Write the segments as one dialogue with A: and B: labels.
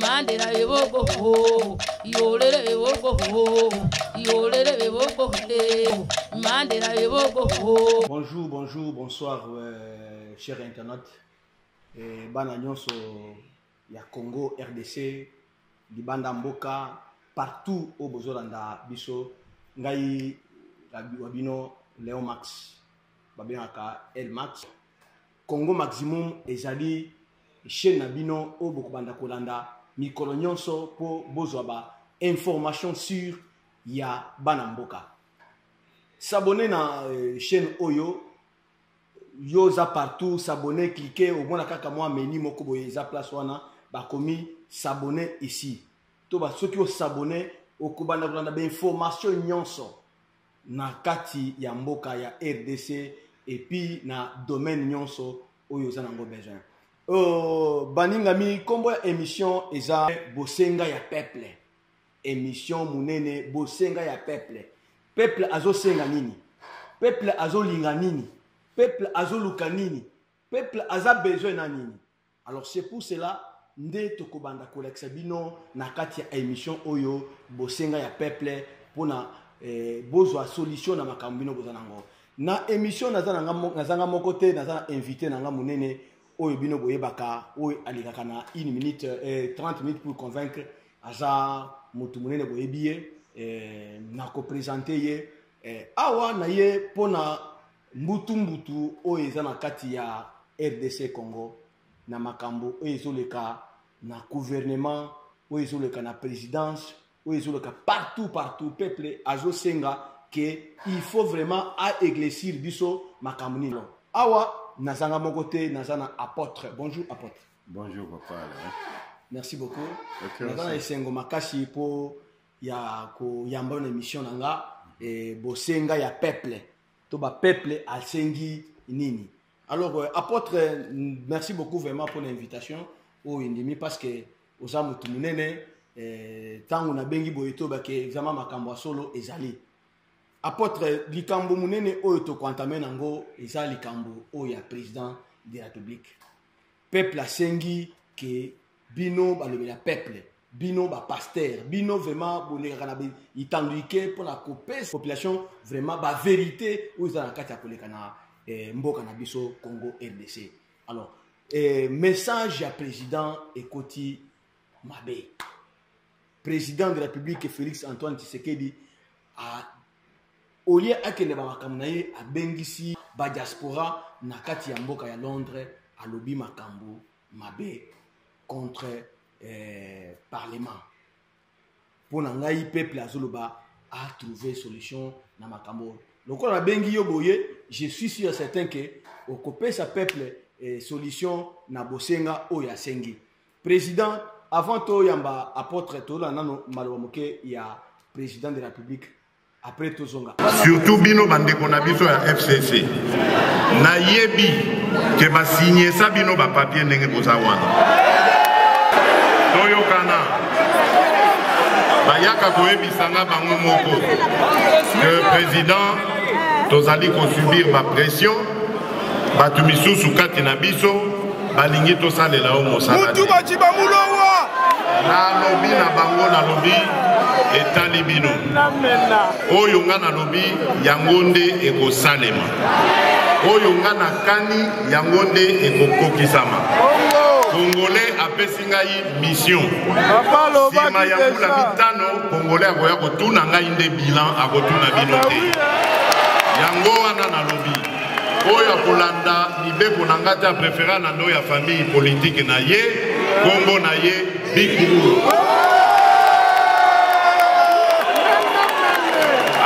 A: Mandela ewoko ho, yolele ewoko ho, yolele ewoko he, Mandela ewoko ho. Bonjour, bonjour,
B: bonsoir, euh, chers internautes. Eh, bana nyonso ya Congo, RDC, libanda mboka, partout au bozolanda biso, ngai wa bino Léon Max, babengaka El Max. Congo Maximum ezali chaîne na bino oyo bokobanda kolanda mikolo nyonso mpo bozwa ba information sur ya bana mboka s'abonne na euh, chaîne oyo yo oza partout s'abonne clike omona kaka mwa menu moko boye eza place wana bakomi s'abonne ici to ba soki osabonne okobanda kolanda bainformation nyonso na kati ya mboka ya rdc epuis na domaine nyonso oyo oza nango besoin oh, baningami nkombo ya émission eza bosenga ya peuple émission monene bosenga ya peuple peuple azosenga nini peuple azolinga nini peuple azoluka nini peuple aza besoin na nini Alors c'est pour cela nde tokobanda kolakisa bino na kati ya émission oyo bosenga ya peuple mpona eh, bozwa solution na makambo bino boza nango na émission naza nanga moko te naza na invité nanga monene oyo bino boyebaka oyo alekaka na une minute eh, 30 minutes pour convaincre aza motu monene boyebi ye eh, nakopresente ye eh, awa na ye mpona mbutu mbutu oyo eza na kati ya rdc congo na makambo oyo ezoleka na gouvernement oyo ezoleka na présidence oyo ezoleka partout partout peuple azosenga ke il faut vraiment aeglesir biso makambo nini awa nazanga moko te naza na apôtre bonjour apôtre bonjour papa
C: Alain. merci
B: beaucoup naza na
C: esengo makasi
B: mpo ya koyamba na émission na nga mhm. eh, bosenga ya peuple to ba peuple asengi nini alors euh, apôtre merci beaucoup vraiment pour l'invitation oyo oh, endimi parce que oza motu monene ntango euh, nabengi boye toyebake vraiment makambo ya solo ezali apôtre likambo monene oyo tokoantame nango eza likambo oyo ya président de la république peuple asengi ke bino balobela peuple bino bapastere bino vraiment bolekaka na itanduike mpona kopesa population vraiment baverité oyo eza na kati ya koleka na eh, mboka na biso congo rdc alors eh, message ya président ekoti mabe président de la république félix antoine tshisekedi olie akende ba makambo na ye abengisi ba diaspora na kati ya mboka ya londres alobi makambo mabe contre eh, parlement mpo na ngai peuple azoloba atrouve solution na makambo lokola nabengi yo boye je suis sur certain ke okopesa peuple eh, solution na bosenga oyo asengi président avant toyamba apôtre tolanda nano maloba moke ya président de la république après tozonga surtout bino bandeko
C: na biso ya fcc nayebi ke basinyesa bino bapapie ndenge boza wana toyokana bayaka koyebisa nga bango moko ke président tozali kosubir bapression bato misusu kati na biso balingi tosalela yo mosala mutu baciba mulowa
D: nalobi
C: na bango nalobi etali bino oyo nga nalobi yango nde ekosalema oyo nga nakani yango nde ekokokisama congolais apesi ngai mission nsima ya mbula mitano congolais akoya kotuna ngai nde bilan akotuna bino te yango wana nalobi oyo akolanda mibeko na ngai te aprefera na ndo ya famille politike na ye nkombo na ye bikulu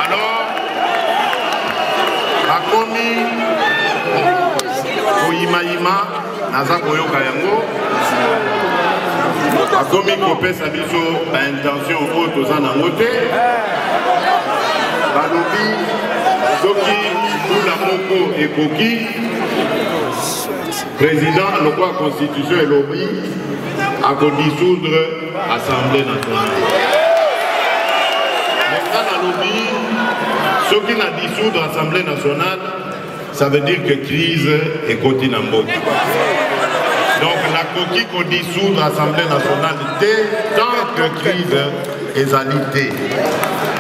C: alors akomi koyimayima naza koyoka yango akomi kopesa biso baintention oyo toza nango te balobi soki mbula moko ekoki président alokwa constitution elobi akodisoudre assemblée nationale nga nalobi soki na disoudre assemblée nationale Ça veut dire que crise ekoti na mboka. Donc nakoki ko dissoudre Assemblée nationale te tant que crise ezali te.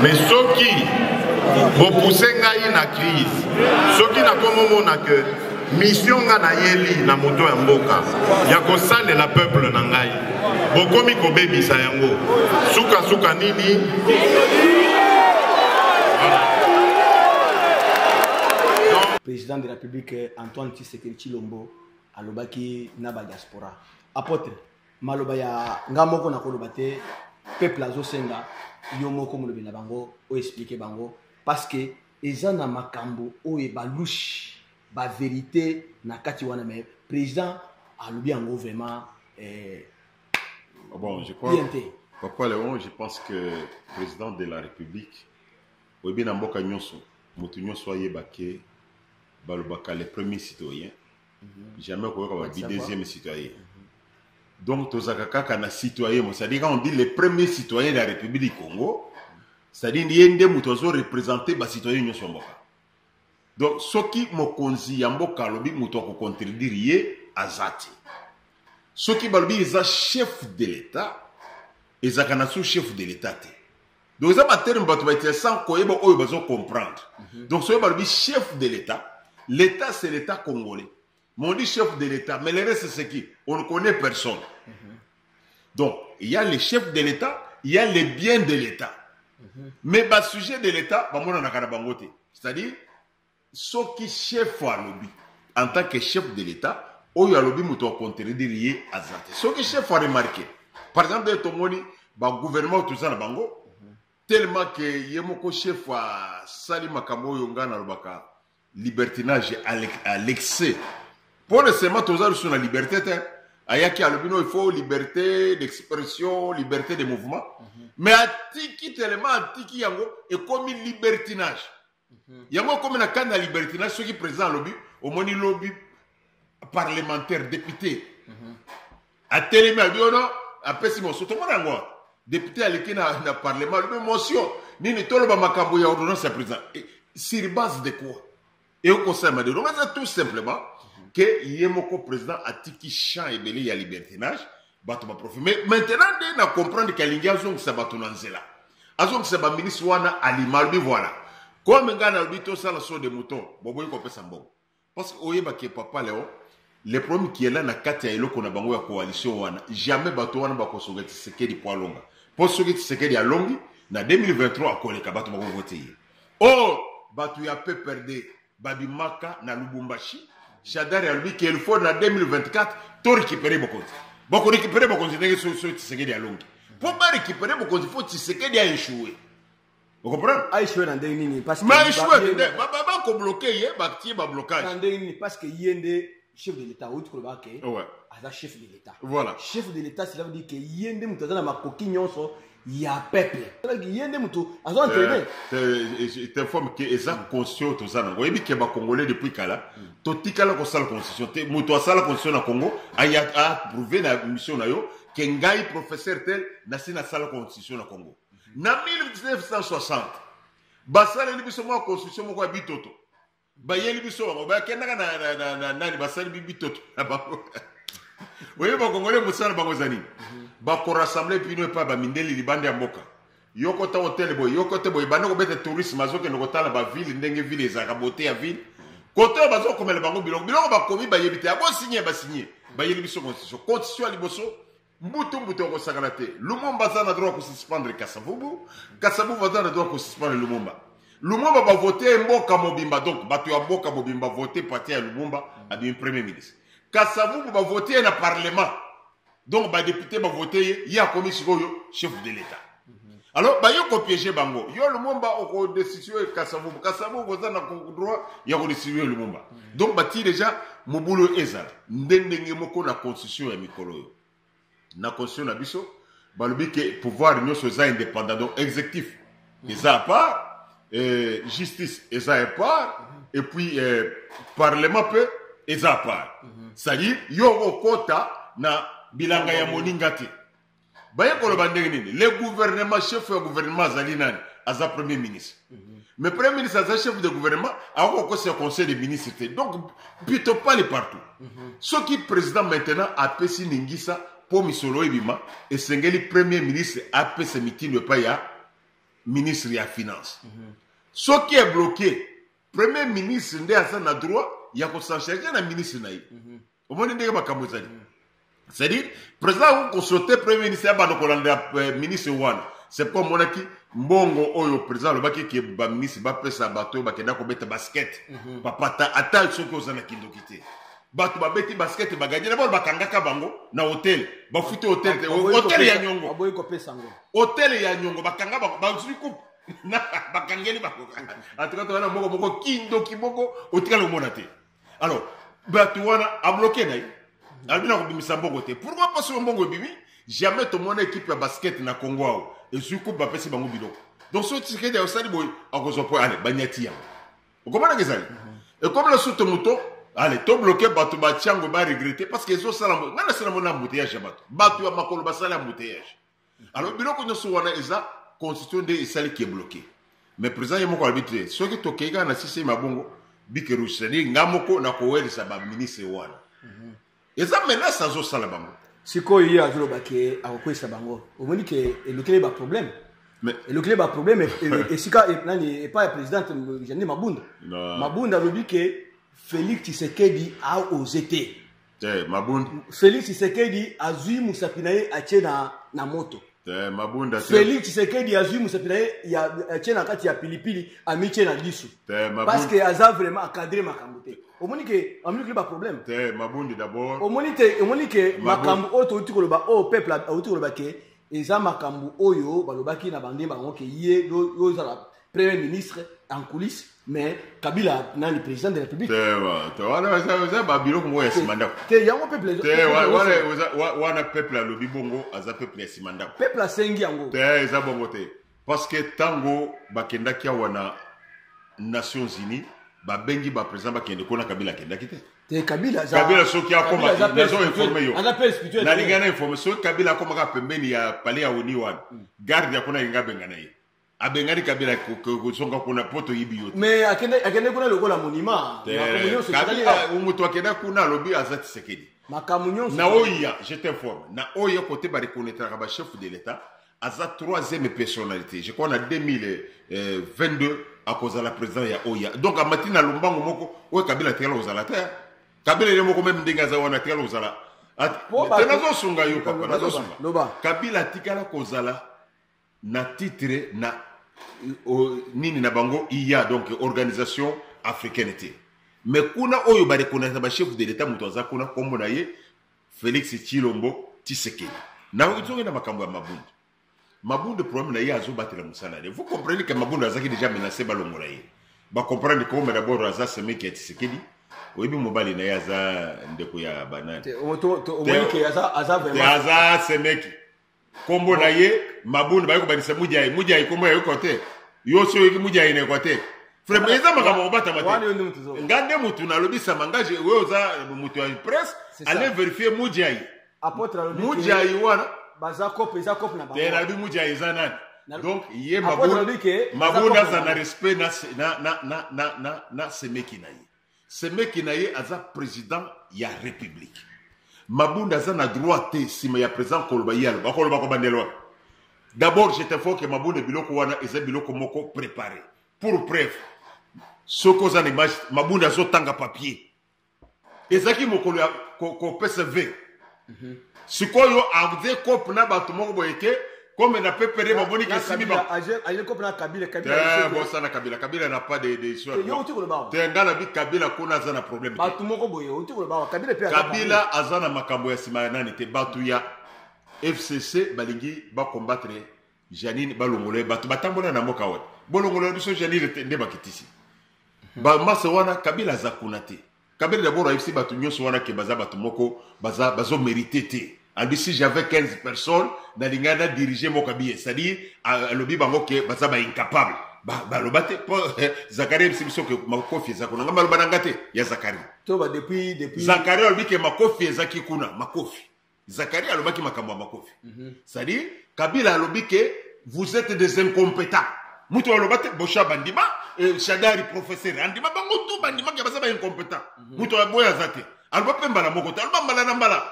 C: Mais soki bopousse ngai na crise, soki nakomomona que mission nga nayeli na moto ya mboka ya kosalela peuple na ngai bokomi kobebisa yango sukasuka nini
B: président de la république antoine tshisekedi tshilombo alobaki na badiaspora apotre maloba ya nga moko nakoloba te peuple azosenga yo moko molobi na bango oexplike bango parce que eza na makambo oyo ebalushe ba verite na kati wana mais président alobi yango vraiment eh, ah
D: bon, je crois, papa léon je pense que président de la république oyebi na mboka nyonso moto nyonso ayeba ke balobaka le premier citoyen mm -hmm. jamais okoyoka babi deuxième citoyen mm -hmm. donc tozalaka kaka na citoyen mo cestadire on dit le premier citoyen de la république du congo cestadire ye nde moto azo représente bacitoyen nyonso ya mboka donc soki mokonzi ya mboka alobi moto akocontredire ye aza te soki balobi eza chef de l'etat ezalaka na sous chef de l'etat te donc eza baterme bato baitila sans koyeba oyo bazo comprendre mhm. donc soki balobi chef de l'etat l'etat c'est l'etat congolais Mon dit chef de l'État, mais le reste c'est qui On ne connaît personne. Mm -hmm. Donc, il y a les chefs de l'État, il y a les biens de l'État. Mm -hmm. Mais bas sujet de l'État, bah, mon bangote. C'est-à-dire, ce qui chef à lobby, en tant que chef de l'État, oyo alobi moto akontredire ye aza te soki chef aremarke par exemple ye tomoni bagouvernement toza na bango tellement ke ye moko chef asali makambo oyo ngai nalobaka libertinage à l'excès mpo na sema toza lisusu na liberté te ayaki alobi no il faut liberté d'expression liberté de mouvement mm -hmm. mais atiki telema atiki yango ekomi libertinage mm -hmm. yango ekomi na kani ya libertinage soki président alobi omoni lobi parlementaire depute mhm. atelemi abi ono apesi motion tomona yango wana depute aleki na, na parlement alobi motion nini toloba makambo ya ordonnance ya président eh, sur base de quoi ekoki kosalema de longo eza tout simplement ke ye moko président atiki champ ebele ya libertinage bato baprofi mais maintenant nde na comprendre ke alingi azongisa bato na nzela azongisa baministre wana alima alobi voilà comme ngai nalobi tosala so de mouton boboyi kopesa mbongo parce que oyeba ke papa leo le problème qui est là na kati ya eloko na bango ya coalition wana jamais bato wana bakosoka tisekedi po alonga po soki tisekedi alongi na 2023 akoleka bato bakovote ye or bato ya pprd babimaka na lubumbashi shadari alobi ke il faut na 2024 to récupere bokonzi bakorécupere bokonzi ndenge soki tisekedi alongi po barécupere bokonzi fo tisekedi a échouer okomprendre aishwe na ndenge nini
B: maishwe nde
D: bakobloke ye batie bablocage na ndenge nini parce que ye
B: nde chef de l'état outi koloba ke aza chef
D: de l'état
B: voilà chef de l'état
D: cela veut
B: dire ke ye nde moto aza na makoki nyonso ya peuple ye nde moto aza entraîne
D: t'informe ke eza constitution toza nango oyebi ke bacongolais depuis kala hmm. totikala kosala constitution te moto asala constitution na congo aprouve na mission na yo ke ngai professeur tel nasi nasala constitution na congo na 1960 basaleli biso mwa construction moko ya bitoto bayeli biso bango bakendaka na, na, na, na nani basali bitoto na bango oyebi bakongole mosala bango eza nini mhm. bakorassemble bino epai bamindeli libanda ya mboka yoko ta hotel boye yoko te boye banda kobeta tourisme azokende kotala bavile ndenge vile ezalaka bote ya vile kote oyo bazokomela bango biloko biloko bakomi bayebi te yango signe basigne bayeli biso constitution constitution ya liboso mbutu mbutu akosakana te lumumba aza na droit kosuspendre kasavubu kasavubu aza na droit kosuspendre lumumba lumumba bavote ye mboka mobimba donc bato ya mboka mobimba vote parti ya lumumba abimi premier ministre kasavubu bavote ye na parlement donc badepute bavote ye ye akomi sikoyo chef de l'etat alors bayo kopiege bango yo lumumba okodestitue kasavubu kasavubu oza na droit ya kodestitue lumumba mm. donc batii deja mobulu oyo ezala nde ndenge moko na constitution ya mikolo oyo na constitution na biso balobi ke pouvoir nyonso eza indépendant donc exécutif mm. eza apart eh, justice eza apart mm-hmm. et puis eh, parlement mpe eza apart mm-hmm. c'est-à-dire yo okota na bilanga ya moninga te baye koloba ndenge nini le gouvernement chef ya gouvernement azali nani aza
C: premier ministre mm -hmm. mais premier ministre aza chef de gouvernement akoki kokosa conseil de ministre te donc pito pale partout mm -hmm. soki président maintenant apesi ningisa mpo misolo oyo ebima esengeli premier ministre apesa mitindo epai ya ministre ya finance mm -hmm. soki ebloke premier ministre nde aza na droit ya kosancharge na ministre na ye mm -hmm. omoni ndenge makambo ezali cestadire président akoki kosote premier ministre ya bando kolandela eh, ministre wana c'est pourquoi omonaki mbongo oyo président alobaki ke baministre bapesa bato oyo bakenda kobeta basket mhm. papata ata soki oza na kindoki te bato babeti basket bagadi na bano bakangaka bango na hotel bafuti hotel te hotel ya nyongo
B: hotel ya nyongo
C: bakanga bango bazwi coupe bakangeli bango antuka toza na mbongo moko kindoki moko otikala omona te alors bato wana abloke na ye alobi na kobimisa mbongo te pourkoi mpo soki mbongo ebimi jamais tomona ekipe ya basket na congo awa ezwi coupe bapesi bango biloko donc soki tisekedi osali boye akozwa mpo ale banyati yango okomonaka ezali mhm. ekomi na suto moto ale tobloke bato batyango baregrete parce que ezosala ngai nasala mona embouteillage ya bato bato ya makolo basala embouteillage alors biloko nyonso wana eza constitution nde esali ke bloke mais président ye moko alobi te soki tokei kaka na sise mabongo bike rouge cetadire nga moko nakowelisa baministre wana mhm. eza menace azosala bango sikoyo ye azoloba
B: ke akokweyisa bango omoni ke elokeli baproblème elokeli baproblème e, e, e, esika nani epai ya présidente janine mabunda mabunda alobi ke félix tshisekedi aose te te mabunda
C: felix tshisekedi
B: azwi mosapi na ye atie na, na moto te mabunda
C: felix tshisekedi
B: azwi mosapi na ye atie na kati ya pilipili amitie na lisu parce que aza vraiment acadre makambo te omoni ke amilukili baproblème te mabundi d'abord
C: omoni te omoni ke
B: makambo oyo touti koloba oyo peuple auti koloba ke eza makambo oyo balobaki na bande bango ke ye yo ozala premier ministre en coulisse mais kabila nani président de la république wana
C: babiloko moko ya nsima ndako te yango peuple wana peuple alobi bongo aza peuple ya nsima ndako peuple asengi yango
B: te eza bongo te
C: parce que ntango bakendaki awa na nations unies babengi baprésident bakende kuna kabila akendaki te te kabila aza
B: kabila soki akoma
C: nazo informe yo aza pe spirituel nalinga na
B: informe soki
C: kabila akomaka pembeni ya palais ya oni wana garde ya kuna alinga abengana ye abengani kabila kozonga kuna mpo toyibi yo mais akende kuna
B: lokola monima
C: moto akenda kuna alobi aza tisekedi makambo nyonso na
B: oya je
C: t'informe na oya kote barekonetraka bachef de l'état aza troisième personnalité je crois na 2022 akozala président ya oya donc amati na lombango moko oyo kabila atikala kozala te kabila ye moko meme ndenge aza wana atikala kozala te nazosunga yo papa nazosunga kabila atikala kozala na titre na euh, nini na bango iya donc organisation africaine te me kuna oyo barekonnaisa bachef de l'etat moto aza kuna nkombo na ye félix chilombo tisekedi nazongi na makambo ya mabundu mabundu problème na ye azobatela mosala ye vous comprenez ke mabundu azalaki déjà menacé balongola ye bacomprendre kombe d'abord aza semeki ya tisekedi oyebi mobali na ye aza ndeko ya banani
B: aza semeki
C: kombo na ye mabundu baye kobandisa mujai mujai kombo ya yoko te yo si oyoki mujai na yoko te frema eza makambo kobatama te nga nde motu nalobisama nga oyo oza motu ya presse ale verifie mujai
B: mujai wana
C: baza cope eza
B: cope na bango nabi mujai eza
C: nani donc ye mabunda aza na respect na semeki na ye semeki na ye aza president ya republique mabunda aza na droit te nsima ya president koloba ye aloba akoloba kobandela wapi d'abord je t'informe que mabunda biloko wana eza biloko moko prépare pour preuve soki oza na image mabunda azotanga papier ezalaki mokolo ya kopesa ve Mhm. sikoyo aze kope na bato moko boye te comme na pepere bamoni kesimi bosana
B: kabila
C: kabila na pas de histoire te nga na bi kabila kuna aza na problème
B: kabila aza na
C: makambo ya nsima ya nani te bato ya fcc balingi bacombattre janine balongola ye bato batambola na mboka wana bolongola biso janine nde bakitisi mhm. bamasa wana kabila aza kuna te kabere dabord ayebisi bato nyonso wana ke baza bato moko baza bazo merite te alobi si j'avais 15 personnes nalingaki na dirige moko abiye c'est-à-dire alobi bango ke baza ba incapable baloba te po eh, zakari ayebisi biso ke makofi eza kuna nga maloba na nga te ya zakari
B: zakari alobi ke
C: makofi ezaki kuna makofi Zakaria alobaki makambo ya makofi. Mm -hmm. C'est-à-dire Kabila alobi que vous êtes des incompétents. Mutu aloba te Bosha bandima, euh, Shadari professeur andima bango tout bandima ke baza ba incompétent. Mm -hmm. Mutu aboya zate. Aloba pe mbala moko te, aloba mbala na mbala.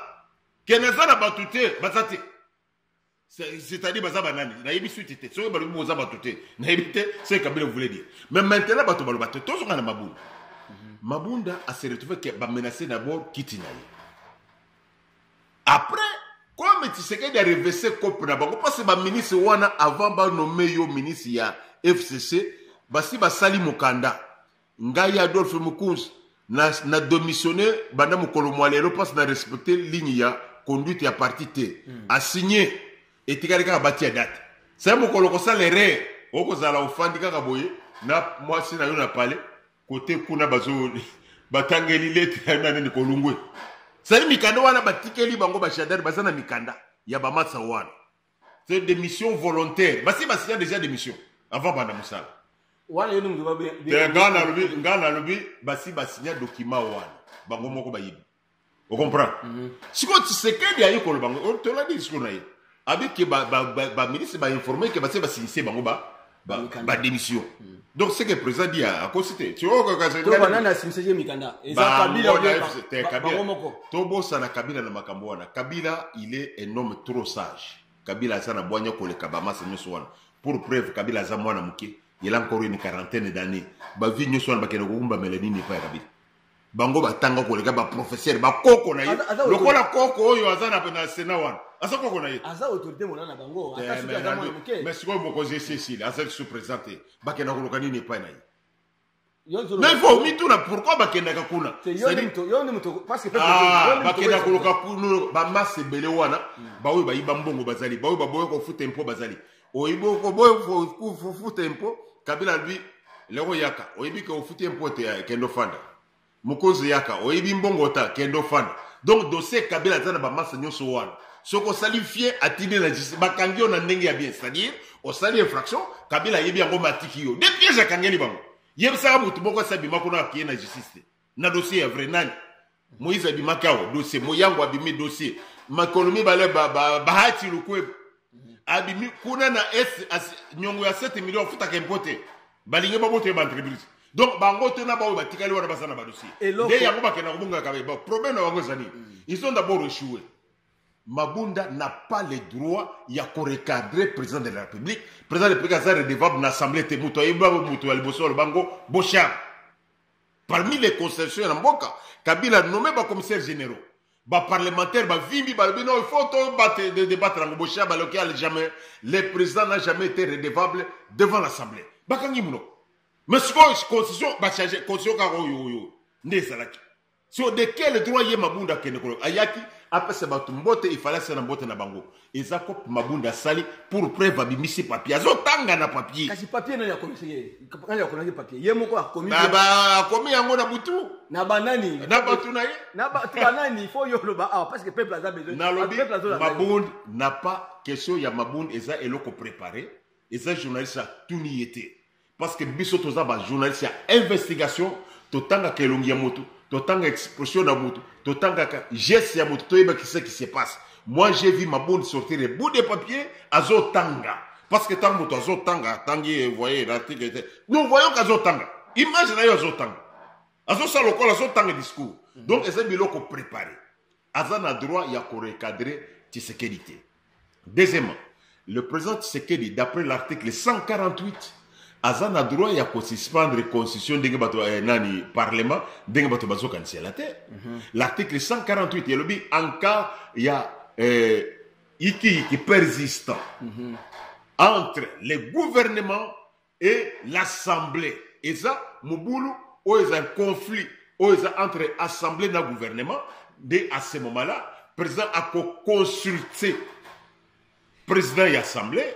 C: Keneza na bato te, baza te. c'est-à-dire baza banani nayebi suite te soki balobi boza bato te nayebi te ce kabila voulait dire mais maintenant bato baloba te tozonga na mabunda mhm. mabunda ase retrouve ke bamenace d'abord kiti na ye après comme tisekedi arevese cope na bango parce baministre wana avant banome yo ministre ya fcc basi basali mokanda ngai adolphe mokunzi na, na domissionne banda mokolo mwa lelo mpasi na respecte ligne ya conduite ya parti te mm. asigne etikali kaka batia date sai mokolo kosala erreur okozala ofandi kaka boye na mwasi na yo na pale kote kuna bazo batangeli lete ya na nini kolungwe sali mikanda wana batikeli bango bashadari baza na mikanda ya bamatsa wana c'est des missions volontaires basi basinya déjà des missions avant banda mosala wana yoni mutu
B: nga nalobi nga
C: nalobi basi basinya document wana bango moko bayibi ocomprendre mhm. sikoyo tshisekedi ayi koloba ngo oh, tolandi discours na ye abike baministre bainforme ke basi basinyise bango ba ba, Mikanda. ba démission donc ce que président dit a- akosi te to banani asimbisaje
B: mikanda eza kabila ou bien ba- ba- bango moko tobosana kabila
C: na makambo wana kabila il est un homme trop sage kabila aza na bwanya koleka bamasa nyonso wana pour preuve kabila aza mwana moke il a encore une quarantaine d'année bavie nyonso wana bakende kokumbamela nini epai ya kabila bango batanga koleka baprofesseur bakoko na ye lokola koko oyo aza na sena wana aza koko na ye
B: mais sikoyo mokonzi esi
C: esili aza lisusu présent te bakenda koluka nini epai na ye mais il faut omituna pourquoi bakendaka kuna
B: ah, bakendaka koluka
C: bamasse ebele wana hmm. baoyo bayiba mbongo bazali baoyo baboya kofuta mpo bazali oyebi okoboyi ofuta impo kabila alobi leko yaka oyebi ke ofuti impo te eh, kende ofanda mokonzi yaka oyebi mbongo ta kende ofanda donc dossier kabila aza na bamasa nyonso wana soki osali fie atindi na justice bakangi yo na ndenge ya bien c'est-à-dire osali infraction kabila ayebi yango matiki yo de piège akangeli bango yebisaka motu moko asi abima kuna akeye na justice te na dossier ya vrai nani moïse abimaki awa dossier moyango abimi dossier makolo mibale bahati lukwebo abimi kuna na est nyongo ya 7 million afutaka impo te balingi babota ye baentreprise donc bango te na baoyo batikali wana baza na badossier nde yango bakenda kobongaka ba problème na bango ezali mm. ils ont d'abord échoué mabunda n'a pas le droit ya korecadre président de la république président de la république aza redevable na assemblée te moto ayebi bango moto ya liboso alobango bochard parmi les constitutions ya mboka kabila nomme ba commissaire généraux ba parlementaire ba vimbi ba bino il faut to bat de débattre en boshia ba local jamais le président n'a jamais été redevable devant l'assemblée bakangi muno mais ce constitution ba changer constitution ka yo yo yo nde ezalaki so de quel droit ye mabunda kende ko ayaki apesa bato mbote ifalasi na mbote na bango eza cope mabunda asali pour preuve abimisi papier azotanga na papier kasi papier nani akomisi
B: ye nani akomaki papier ye moko akomi akomi yango
C: na butu na banani
B: na bato na ye
C: na bato banani
B: fo yo oloba awa parce que peuple aza besoin nalobi mabund
C: na pas question ya mabund eza eloko prépare eza journaliste atuni ye te parce que biso toza ba journaliste ya investigation totangaka elongi ya motu totanga expression na motu totangaka geste ya motu toyeba kise qui se passe moi j'ai vu ma bonne sortir le bout de papier azotanga parce que ntango moto azotanga atangi voye l'article te nous voyons que azotanga image na yo azotanga azosala lokola azotanga discours donc eza biloko prépare aza na droit ya ko recadrer Tshisekedi te. Deuxièmement, le président Tshisekedi d'après l'article 148 aza na droit ya ko suspendre constitution ndenge bato eh, nani parlement ndenge bato bazokanisela te. Mm -hmm. L'article 148 elobi en cas ya eh, iki iki persistant mm -hmm. entre les gouvernements et l'assemblée eza mobulu oyo eza conflit oyo eza entre assemblée na gouvernement nde à ce moment là président akoconsulte président ya assemblée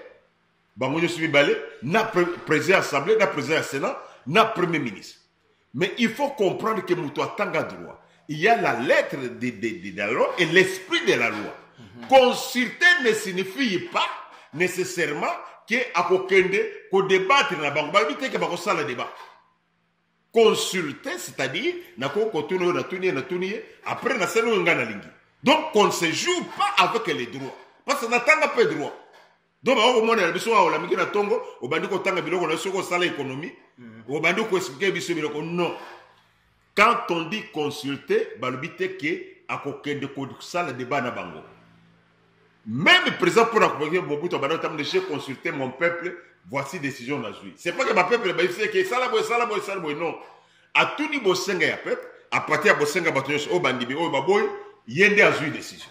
C: bango nyonso mibale na président ya assemblée na président ya sénat na premier ministre Mais il faut comprendre que moto atanga droit. Il y a la lettre de, de, de, de la loi et l'esprit de la loi. Mhm. Consulter ne signifie pas nécessairement que akokende ko débattre na bango bayebi te ke bakosala débat consulter c'est-à-dire nakoki kotuna oyo natuni ye natuni ye après nasali oyo ngai nalingi donc on ne se joue pas avec les droits parce que natanga mpe droit donc bakoki komonela biso awa olamiki na ntongo obandi kotanga biloko na yo soki osala ekonomi mhm. obandi koexplike biso biloko non quand on dit consulte balobi te ke akokende kosala debat na bango même président mpo na koboki bobutu abanda kotambola j'ai consulté mon peuple voici décision nazwi c'est pas que bapeuple bayebisi eke esala boye esala boye esala boye non atuni bosenga ya peuple apati ya bosenga bato nyonso oyo bandimi oyo baboyi ye nde azwi décision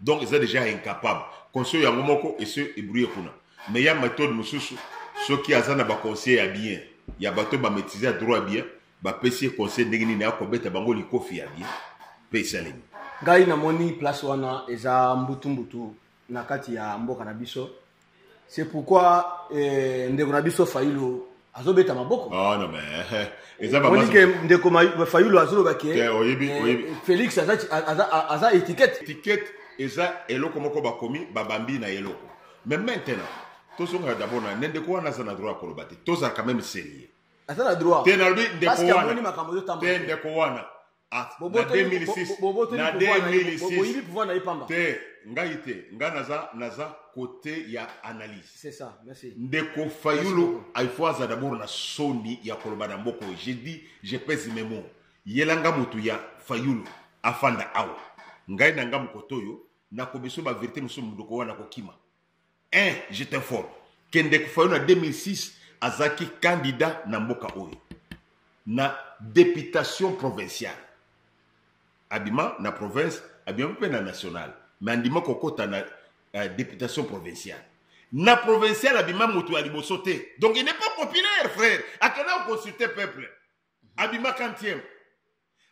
C: donc eza deja incapable conseil yango moko ese ebrouye kuna mais ya méthode mosusu soki aza na baconseil ya bien ya bato bamaîtrise ya droit ya bien bapesi ye conseil ndenge nini akobeta bango likofi ya bien mpe esalemi ngai namoni
B: place wana eza mbutumbutu na kati ya mboka na biso c'est pourquoi eh, ndeko na biso fayulu azobeta maboko ah, non, mais,
C: eh, omoni ke ndeko
B: fayulu azoloba ke eh, félix aza, aza, aza étiquette étiquette eza eloko moko bakomi babambi na eloko mais maintenant tozongaka d'abord na ne ndeko wana aza na droit ya koloba te tozalaka meme sérieux aza na droit te nalobi ndeko wana te ndeko wana Ah, na Bobotoli- 2006 bo- bo- bobotoli na pouvoir na ye, bo- 2006 boyibi pouvoir na ye pamba. te ngai te ngai naza naza kote ya analyse C'est ça, merci. ndeko fayulu il faut aza dabord na soni ya koloba na mboka oyo je dis je pèse mes mots yelanga motu ya fayulu afanda awa ngai na nga mokoto oyo nakobiso baverité mosusu mondoko wana kokima un je t'informe ke ndeko fayulu na 2006 azalaki candidat na mboka oyo na deputation provinciale abima na province abima mpe na nationale me andima kokɔta na uh, deputation provinciale na provinciale abima moto ya liboso te donc il n'est pas populaire frère akenda koconsulte peuple abima kantieme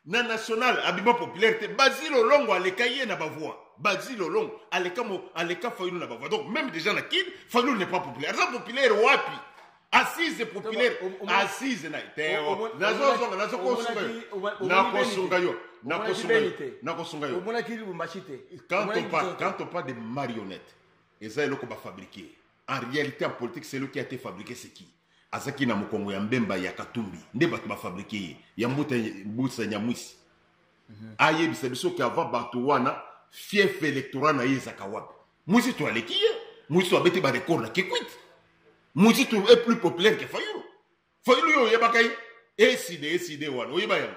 B: na national abima populaire te bazile olongo aleka ye na bavoix bazile olongo aleka, mo, aleka fayulu na bavoix donc même déjà na kin fayulu n'est pas populaire aza populaire wapi assise populaire assise na te nazozonga nazokosunga yo nakosunga yo nakosunga yo nakosunga yo omonaki lubumbashi te quand on parle quand on parle de marionnette eza eloko bafabriquer en réalité en politique celui qui a été fabriqué c'est qui azaki na mokongo ya mbemba ya katumbi nde bato bafabrike ye ya mbuta mbusa nyamwisi mm -hmm. ayebisa biso ke avant bato wana fief électoral na ye ezaka wapi mwisi to aleki ye mwisi to abeti barecord na kikwit mwisi to est plus populaire ke fayulu fayulu yo oyebaka ye eside eside wana oyeba yango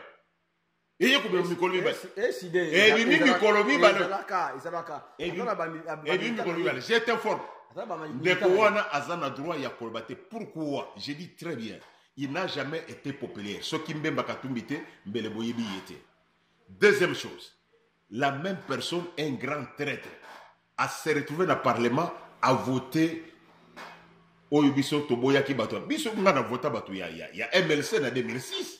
B: eye kobima mikolo mibale ebimi mikolo mibale ebimi mikolo mibale je t'informe ndeko wana aza na droit ya koloba te pourquoi je dis très bien il n'a jamais été populaire soki mbemba katumbi te mbele boyebi ye te deuxième chose la même personne un grand traître a se retrouver na parlement a voter oyo biso toboyaki bato biso nga na vota bato ya, ya, ya mlc na 2006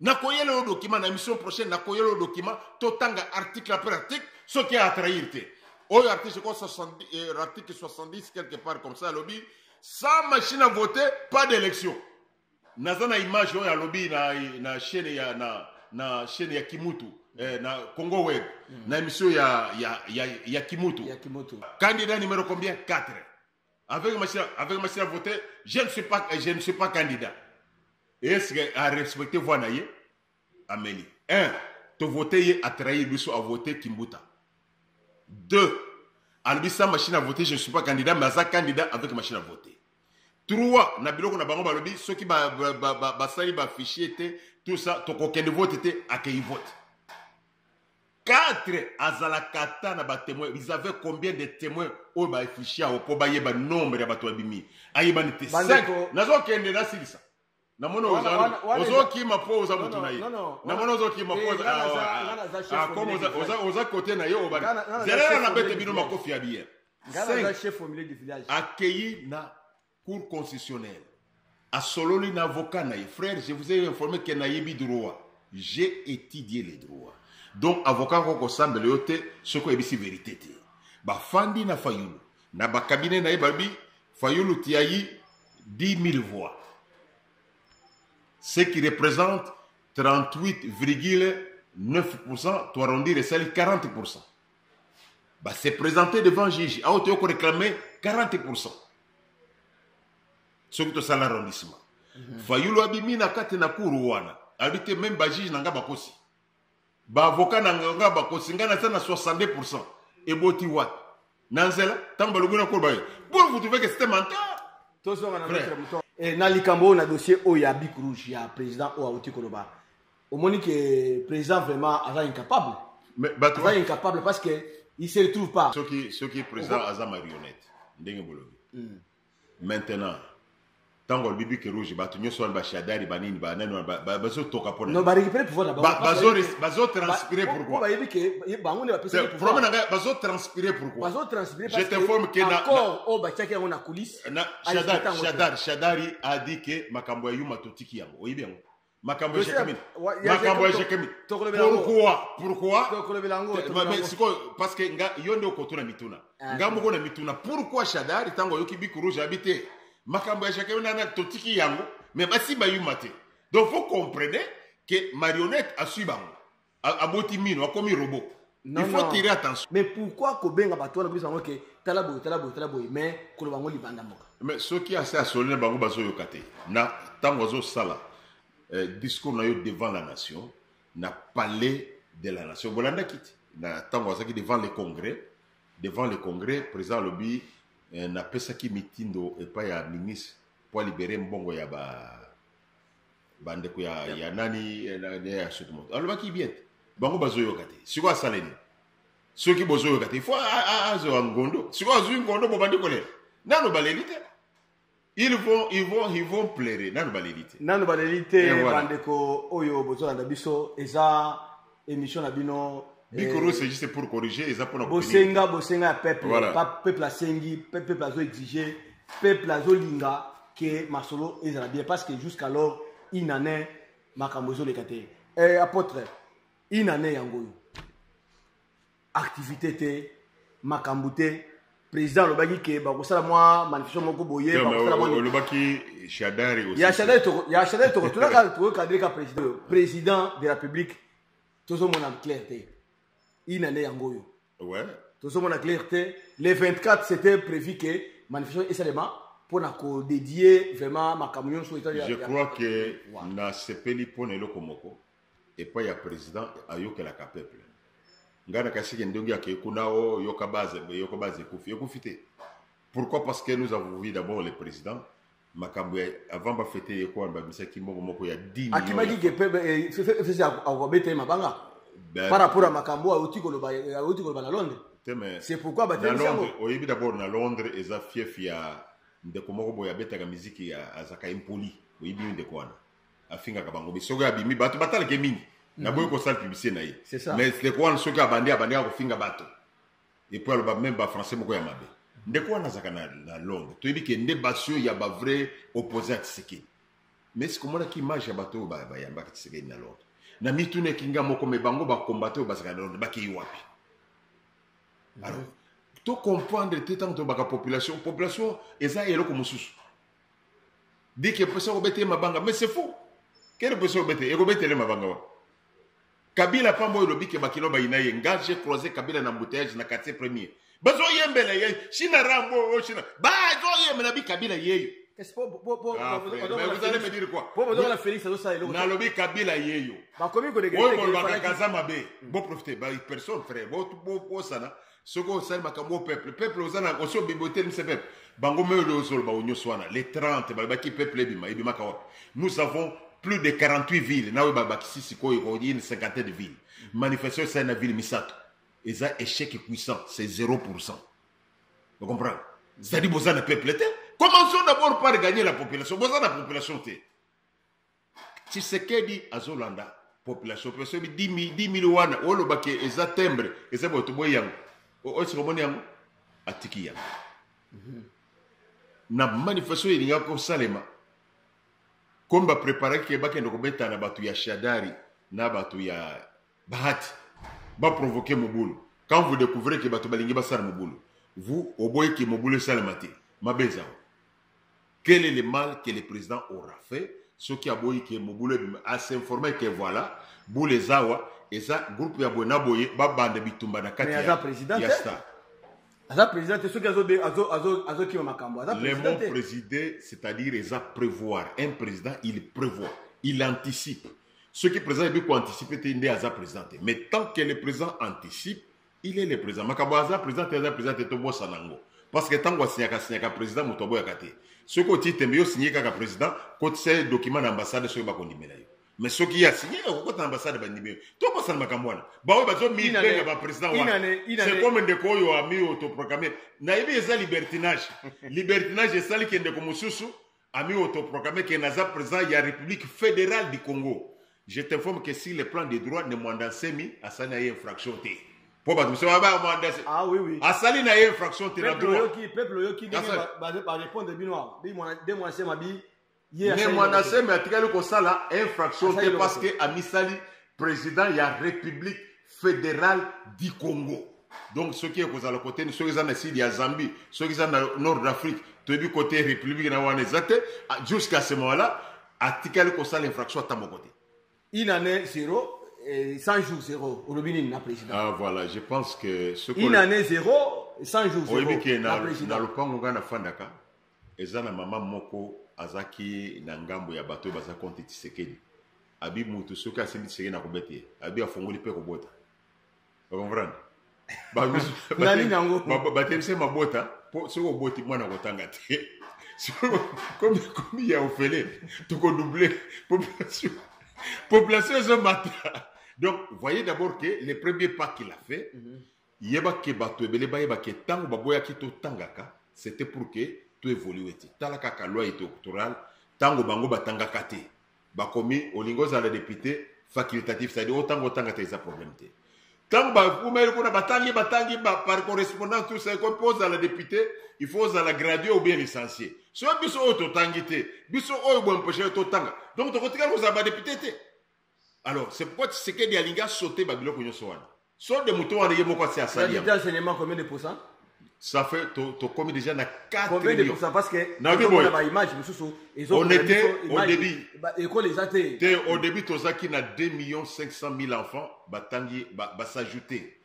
B: nakoyela yo document na émission prochaine nakoyela yo document totanga article après article soki atrahir te oyo article ko euh, article 70 quelque part comme ça alobi sans machine à voter pas d'élection naza na image oyo alobi na, na chaîne ya na, na chaîne ya kimutu eh, na congo web mm. na émission ya, ya, ya, ya kimutu, ya kimutu. candidat numéro combien 4 Avec machine, avec machine à voter, je ne suis pas, je ne suis pas candidat. Est-ce que à respecter voix naïe? Amélie. Un, te voter a trahi biso a voter Kimbuta. Deux, albisa machine à voter, je ne suis pas candidat, mais aza candidat avec machine à voter. Trois, na biloko na bango balobi soki ba ba ba ba, ba sali ba fichier te, tout ça, tokokende vote te, akeyi vote. 4 azalaka ata na batemoin ils avaient combien de témoins oyo baefishi yango mpo bayeba nombre ya bato babimi ayebani te nazokende nasilisa namoni ozokima mpo oza motu na ye namoni ozokima mpokomi oza kote na ye obani zelela na bete bino makofi ya biye akei na cour
D: constitutionnelle asololi na avocat na ye frère je vous ai informé ke nayebi droit j'ai étudié les droits donc avocat yango kosambela yo te soki oyebisi verité te bafandi na fayulu na bakabine na ye balobi fayulu tiayi 10 000 voix ce qui représente 38,9% toarondire esali 40% ba se présenter devant juge awa toyo ko réclamer 40 pourcent soki tosala arrondissement mhm. fayulu abimi na kati na kuru wana alobi te meme bajuge na ngai bakosi baavoka na ngai bakosi ngai naza na 62 pourcent eboti wapi na nzela ntango balobi na koloba ye pour vous trouver que c'était menteur tozonga na eh,
B: na likambo oyo na dossier oyo ya bic rouge ya président oyo auti koloba omoni ke président vraiment aza incapable aza
D: incapable
B: parce que il se retrouve pas soki soki président
D: aza marionnette ndenge bolobi hmm. maintenant ntango alobi bike rouge bato nyonso wana bashadari banini banani wana bazotoka mponabazotranspire
B: pourquoiproblème
D: na
B: ngai
D: bazotranspire pourquoije t'informe
B: ke
D: oyo batiaki yango
B: na coulisse
D: shadari a dit ke makambo ya yuma totiki yango oyebi yango makambo ejeka mingi makambo ejeka mingi pourquoi pourquoi sikoyo parce que nga yo nde okotuna mituna ah, nga moko na mituna pourquoi shadari ntango ayoki biku rouge abi te makambo ya jacques nana totiki yango mais basi bayuma te donc faut comprenez que marionnette asui bango aboti mino akomi robot non, il faut non. tirer attention mais pourquoi kobenga
B: bato wana kobisa bango ke tala boye tala boye tala boye mais koloba yango libanda mboka mais soki asi
D: asoli na bango bazoyoka te na ntango azosala eh, discours na yo devant la nation na palais de la nation bolandaki te na ntango azalaki devant le congrès devant le congrès président alobi eh, napesaki mitindo epai ya ministre mpo alibere mbongo ya ba bandeko ya, ya, ya nani ya soki moto alobaki bien te bango bazoyoka te sikoyo asala nini soki bozoyoka te fo azwa ngondo sikoyo azwi ngondo bobandi kolela nano baleli te ils vont ils vont ils vont plaire nano baleli te nano baleli
B: te bandeko oyo bozolanda biso eza Émission na bino bikoro c'est juste
D: pour corriger eza pona bosenga bosenga ya
B: peuple voilà. pa peuple asengi peuple azo exige peuple azo linga que masolo ezala bien parce que jusqu'alors une année makambo ezoleka te eh, apôtre une année yango oyo activité te makambo te président alobaki ke bakosala mwa manifestation moko boye olobaki
D: shadari aussi ya shadari toko ya
B: shadari toko tolaka toko cadre ka président oyo président de la publique tozomona clair te ina nde yango oyo ouais tozomona
D: clair
B: te le 24 c'était prévu que manifestation esalema mpo na kodedie vraiment makambo nyonso je crois que
D: nasepeli mpo na eloko moko epai ya president ayokelaka peuple ngai nakasike ndenge akei kuna o yoka base yoka base ekufi ekufi te pourquoi parce que nous avons vu d'abord le président makambo ya avant bafete ye kuana babisaki mbongo moko ya akimaki gepefesi
B: akobeta ye mabanga par rapport ya makambo oyo auti koloba auti koloba na londres c'est pourquoi batelemisango oyebi d'abord
D: na londres eza fief ya ndeko moko boye abetaka miziki azaka impoli oyebi ndeko wana afingaka bango bi soki abimi bato batalake mingi mhm. naboyi kosala publicité na ye mais ndeko wana soki abandi abandaka kofinga bato epuis aloba meme bafrançais moko ya mabe ndeko wana azalaka na, na londres toyebi ke nde basi oyo ya bavrai oppose ya tisekedi mais sikomonaki image ya bato oyo bayambaka tisekedi na londres na mitunaki nga moko me bango bakombate oyo bazalaka na londres bakei wapi mhm. alors tocomprendre te ntango tobaka population population eza eloko mosusu dit que posa kobeta ye mabanga mais c'est fou kele posa kobeta ekobetele mabanga wa kabila pamba oyo lobi ke bakilo bayina ye nga je croise kabila na embouteillage na quartier premier bazoyembela ye china rambo o oh, china bazoyembela bi kabila yeyo
B: nalobi kabila
D: yeyo oyo
B: bolobaka kaza
D: mabe boprofite personne frère bosana soki osali makambo oyo peuple peuple oza na osi obibotelisa peuple bango mei oyo ozoloba oyo nyonso wana le 30 balobaki peuple ebima ebimaka wapi nous avons plus de 48 villes na oyo babakisi sikoyo okoki une cinquantaine de villes manifestation esali na ville misato eza échec puissant c'est 0 pourcent ocomprendre zali boza na peuple te commençons d'abord par gagner la population boza na population te tshisekedi azolanda population population bi 10000 wana olobaki eza timbre eza bato boye yango osi komoni yango atiki yango mhm. na manifestation elingaki kosalema komi bapreparaki ke bakende kobeta na bato ya shadari na bato ya bahati baprovoke mobulu quand vous découvrez ke bato balingi basala mobulu vous oboyeki mobulu esalema te mabe ezango Quel est le mal que le président aura fait soki aboyi ke mobulu ebima a s'informer ke voilà boule eza awa eza groupe ya boye na boye babanda bitumba na kati ya président ya star
B: aza
D: président te soki azokima
B: makambo aza le mot président
D: c'est-à-dire eza prévoir un président il prévoit il anticipe soki président ebi koanticipe te nde aza président te mais tant que le président anticipe il est le président makambo aza président te aza président te tobosana yango parce que ntango asinyaka asinyaka président moto aboyaka te soki otii tembe yo sinye kaka président kotisa ye document na ambassade soki bakondimela yo mais soki ye asinye okokota na ambassade bandimi yo tobosana makambo wana baoyo bazomibenga baprésident wana c'est comme ndeko oyo ami autoproclame nayebi eza libertinage libertinage esali ke ndeko mosusu ami autoproclamé que naza président ya république fédérale du congo je t'informe que si le plan de droit ne mwanda nsemi asali na ye infraction te mpo bato mosusu baba mwanda se-
B: ah oui oui asali na ye infraction
D: te na peuple droit oyoki peuple
B: oyoki ndenge Kasa- ba- ba- barépondre bino awa bi mwana de mwana sema bi ye ne
D: asali mwanda eloko te. nsemi atikali kosala infraction Asali te eloko parce te. que amisali président ya république federal du congo donc soki ekozala kote soki eza na sud ya zambie soki eza na nord d'afrique toyebi kote république na wana eza te ah, jusqu'à ce moment là atikali kosala infraction ata moko te une année
B: zéro 100 jours zéro olobi nini na président ah voilà je pense
D: que une année zéro
B: 100 jours zéro oyebi ke na
D: lopango ngai nafandaka Eza na maman moko azaki na ngambo ya bato baza konti tisekedi abi mutu soki asimbi tisekedi na kobete ye abi afongoli mpe kobota okomprendre
B: batemisa mabota
D: mpo soki oboti mwana kotanga te komi komi ya ofele tokodouble population population ezomata donc voyez d'abord que le premier pas qu'il a fait mm -hmm. Yeba que batu ebele bayeba que tango baboyaki to tangaka c'était pour que to evolue te. Tala kaka loi electorale tango bango batangaka te bakomi olingi ozala depute facultatif c'est à dire otanga otanga te eza problème te ntango bakumeli kuna batangi batangi par correspondance tout ça ekomi mpo ozala député il faut ozala gradué ou bien licencié soki biso oyo totangi te biso oyo boempeshe totanga donc tokotikala kozala badepute te alors c'est pourquoi tshisekedi alingi asote babiloko nyonso wana solde moto wana ye moko asi asali yango enseignement combien de pourcent
B: ça fait
D: to to komi déjà na 4 combien de pourcent parce que
B: na
D: bibo
B: na image mususu
D: ezo on était au début école eza te te
B: au début tozaki
D: na 2 millions 500 000 enfants batangi ba, ba s'ajouter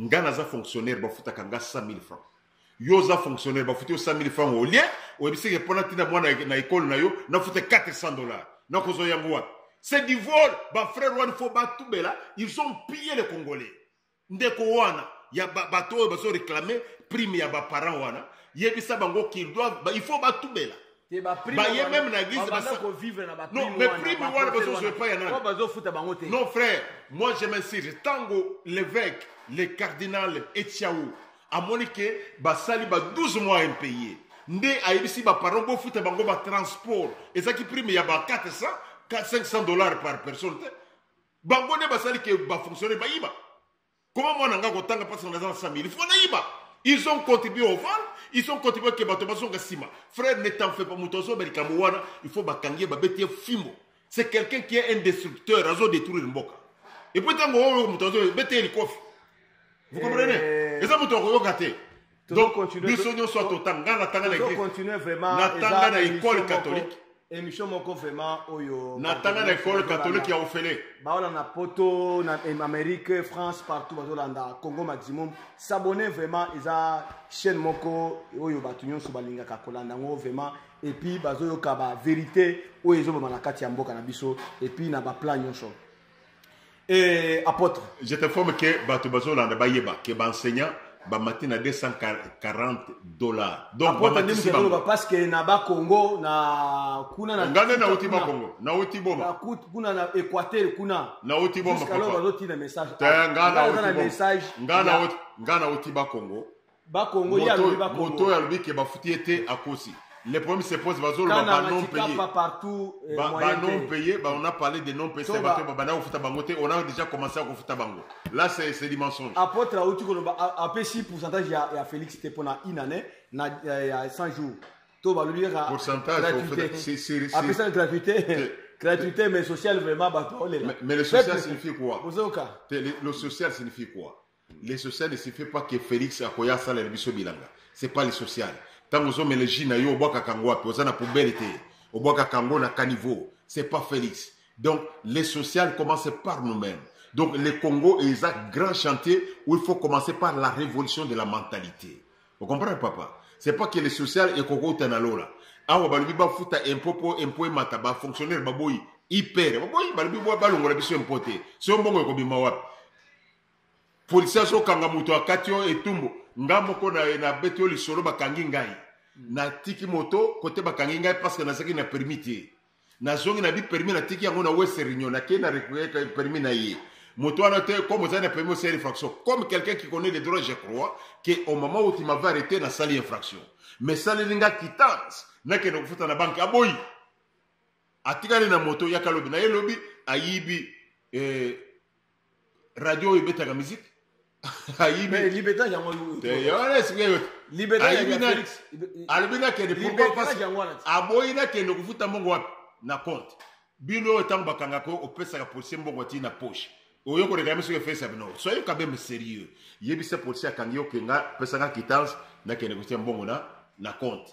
D: nga naza fonctionnaire bafutaka nga 100 000 francs yo oza fonctionnaire bafuti yo 100 000 francs au lieu oyebisi ke mpona ntina mwana na ekole na yo nafuta 400 dollars nakozwa yango wapi c'est du vol bafrère wana fo batubela ils ont pillé le congolais ndeko wana ya bato oyo bazo réclame prime ya baparent wana yebisa bango qu'il doivent il faut batubela baye meme na église non
B: mais prime wana
D: bazozwa epai ya nani non frère moi je m'insiste ntango l'évêque le cardinal etiao amoni ke basali ba 12 mois impayé nde ayebisi baparent bofuta bango batransport ezalaki prime ya ba 400 500 dollars par personne te bango nde basali ke bafonctionnaire bayiba Comment moi nanga kotanga parce qu'on est dans 100 000 Il faut naïba. Ils ont contribué au vol, ils ont contribué que bato bazonga sima. Frère, ne t'en fais pas, moto azo bel kamouana, il faut bakangie babete fimo. C'est quelqu'un qui est un destructeur, azo détruire mboka. Et puis tango oyo moto azo bete likofi. Vous comprenez? Eza moto akoyoka te. donc biso nyonso totanga nga natanga
B: na natanga na ekole
D: katolike émission moko
B: vraiment oyo natanga na ekole
D: katolike ya ofele baolanda poto
B: na amérique france partout bazolanda congo maximum s'abonne vraiment eza chaîne moko oyo bato nyonso balingaka kolanda yango vraiment epuis bazoyoka bavérité oyo ezoboma na kati ya mboka na biso epuis na baplan nyonso
D: Et apôtre. Je t'informe que Bato Bazolanda Bayeba, que enseignant bamati na 240 dollars donc bamatisi bango parce que
B: na ba Congo na kuna na ngane na uti ba Congo
D: na uti boma na kut kuna na
B: Equateur kuna na uti boma papa alors
D: bazoti na message te
B: ngana uti
D: message ngana
B: uti ngana
D: uti ba Congo bakongo ye alobi bakongo moto oyo alobi ke bafuti ye te akosi le problème se pose bazoloba banon paye banon paye on a parlé de non paye se bato babanda kofuta bango te on a déjà commencé ya kofuta bango là c'est du mensonge apôtre auti koloba
B: apesi pourcentage ya, ya félix te mpona une année na ya 100 jours to balobi kaka
D: pourcentage
B: apesa gratuité gratuité mais social vraiment bato olela mais le social
D: signifie quoi le social signifie quoi Le social ne signifie pas que Felix akoya asalela biso bilanga. C'est pas le social. Tango zo mele jus na yo obwaka kango wapi? Oza na poubelle te. Obwaka kango na caniveau. C'est pas Felix. Donc le social commence par nous-mêmes. Donc le Congo est un grand chantier où il faut commencer par la révolution de la mentalité. Vous comprenez papa? C'est pas que le social est koko tanalola. Awa balubi ba futa impôt po impôt emata ba fonctionnaire baboyi hyper. Baboyi balubi ba balongola biso impôt te. C'est un bongo ekobima wapi? polisi azokanga moto akati yo etumbu nga moko nabeti yo lisolo bakangi ngai mm. natiki moto kote bakangi ngai parceke nazalaki na permis te nazongi na bi permis natiki yango na west réunion nakei na récupere permis na ye moto wana te comme ozali na permis osali infraction comme quelqu'un qui connaît les droits je crois que au moment où tu m'avais arrêté nasali infraction mais saleli nga quitance nakende kofuta na banke aboyi atikali na moto yaka lobi na ye lobi ayibi eh, radio oyo ebetaka musique ayibi
B: libeta yango
D: alobi nakende aboyi nakende kofuta mbongo wapi na compte bino oyo ntango bakangaka opesaka policier mbongo atii na poche oyo koleka miso efesa bino soyez quand même sérieux yebisa policier akangi yo kenga pesaka kitance nakende kotia mbongo na na compte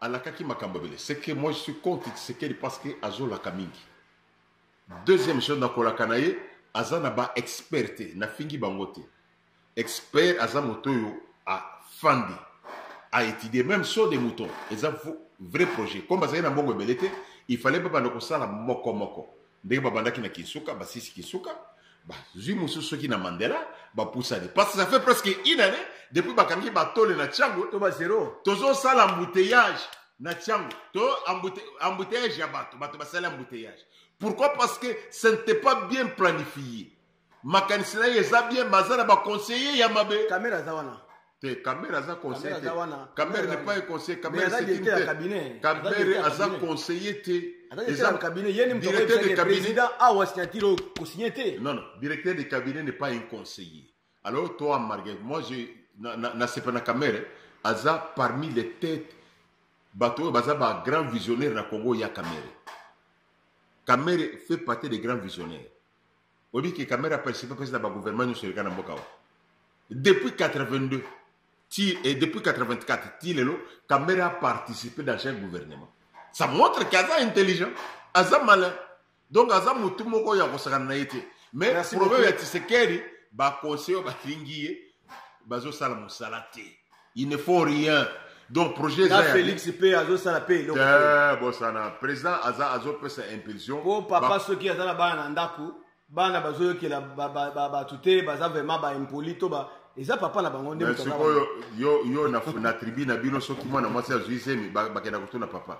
D: alakaki makambo ebele ce que moi je suis contre tshisekedi parce que azolaka mingi deuxième chose na kolaka na ye aza na ba expert te nafingi bango te expert aza moto oyo afandi a étudier même sur des moutons eza vrai projet comme bazali na mbongo ebele te il fallait babanda kosala moko moko ndenge babandaki na kinsuka basisi kinsuka bazwi mosusu soki na mandela bapusani parce que ça fait presque une année depuis bakangi batole na tiango to bazero
B: tozosala
D: embouteillage na tiango to embouteillage ya bato bato basali embouteillage pourquoi parce que ce n'était pas bien planifié makanisi na ye eza bien mais aza na baconseiller ya mabe kamera aza wana
B: te kamere aza
D: conseiller te kamere n'est pas un conseiller kamere c'est une tête kamere aza conseiller te eza cabinet ye ni moto oyebi président awa signature oyo kosigne te non non directeur de cabinet n'est pas un conseiller alors toi margue moi je nasepa na kamere aza parmi les têtes bato oyo baza ba grand visionnaire na congo ya kamere kamere fait partie des grands visionnaires oyebi ke kamera participe mpesi na bagouvernement nyonso eleka na mboka wa depuis 82 ti, eh, depuis 84 ti lelo kamera participe dans chaque gouvernement ça montre ke aza intelligent aza malin donc aza motu moko ya kosakana na ye te mais problème ya tisekeri baconseil oyo balingi ye bazosala mosala te il ne faut rien donc projet eza félix mpe
B: azosala mpe eloko bosana
D: président aza azopesa impulsion po papa soki aza
B: na bana na ndako bana bazoyokela bato te baza vraiment baimpoli to ba eza papa na bango nde sikoyo yo
D: na tribu na bino soki mwana mwasi azwi zemi bakenda kotuna papa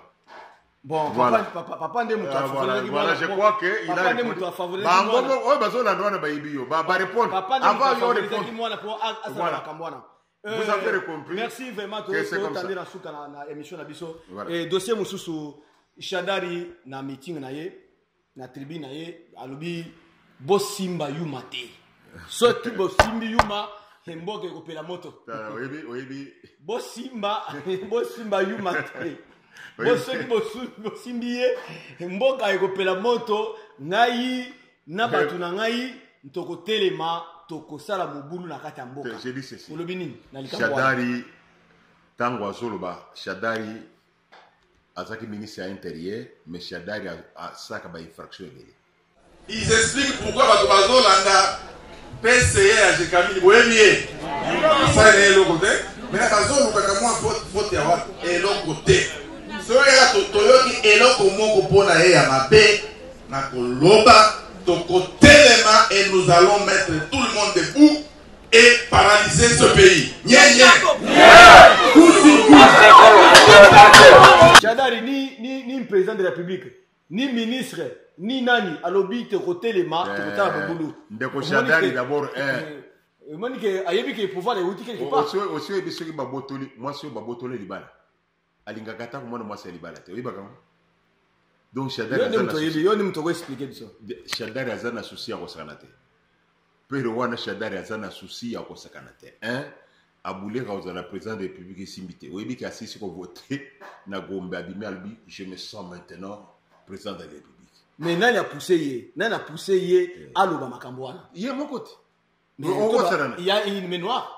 D: Bon, voilà.
B: papa, papa,
D: papa nde moto ah,
B: voilà, voilà, je crois que
D: il a répondu. Bango moko oyo bazolanda wana bayibi yo, ba ba répondre. Avant yo répondre. Mwana po asala makambo wana.
B: Euh, Vous avez
D: compris. Merci vraiment to
B: tandi na suka na, na émission na biso. Voilà. Et dossier mususu Shadari na meeting na ye. na tribu na ye alobi bosimba yuma te soki bosimbi yuma mboka ekopela moto
D: bosimba
B: bosimba yuma te bo soki bosimbi ye mboka ekopela moto ngai na bato na ngai tokotelema tokosala mobulu na kati ya mboka olobi nini
D: na likambo shadari ntango azoloba shadari azalaki ministre ya interieur mais shadari asalaka ba infraction ebele ils
C: expliquent pourquoi bato bazolanda pce ya jekamini boyebi ye asala na eloko te mena bazolukaka mwa vote ya wapi eloko te soki ya toyoki eloko moko mpo na ye ya mabe na koloba tokotelema et nous allons mettre tout le monde debout et paralyser ce pays. Nye, nye.
B: Chadari ni, ni, ni président de la République, ni ministre, ni nani, alobi te kotelema, te kotala bobulu. Ndeko Chadari
D: d'abord, eh. eh omoni
B: ke ayebi ke pouvoir euti quelque part osi oyebi soki
D: babotoli mwasi oyo babotoli libala alingaka ata komwana mwasi ya libala te oyebaka yango donc shadarioni moto
B: okoexplike biso shadari aza na
D: susi ya kosakana te pero wana shadari aza na susi ya kosakana te hein? abuleka kozala président de république esimbi te oyebi ke asisi kovote na gombe abimi alobi je me sens maintenant président de la république mais nani apousse
B: ye nani apousse ye eh. aloba makambo wana ye moko te
D: il
B: y a une mémoire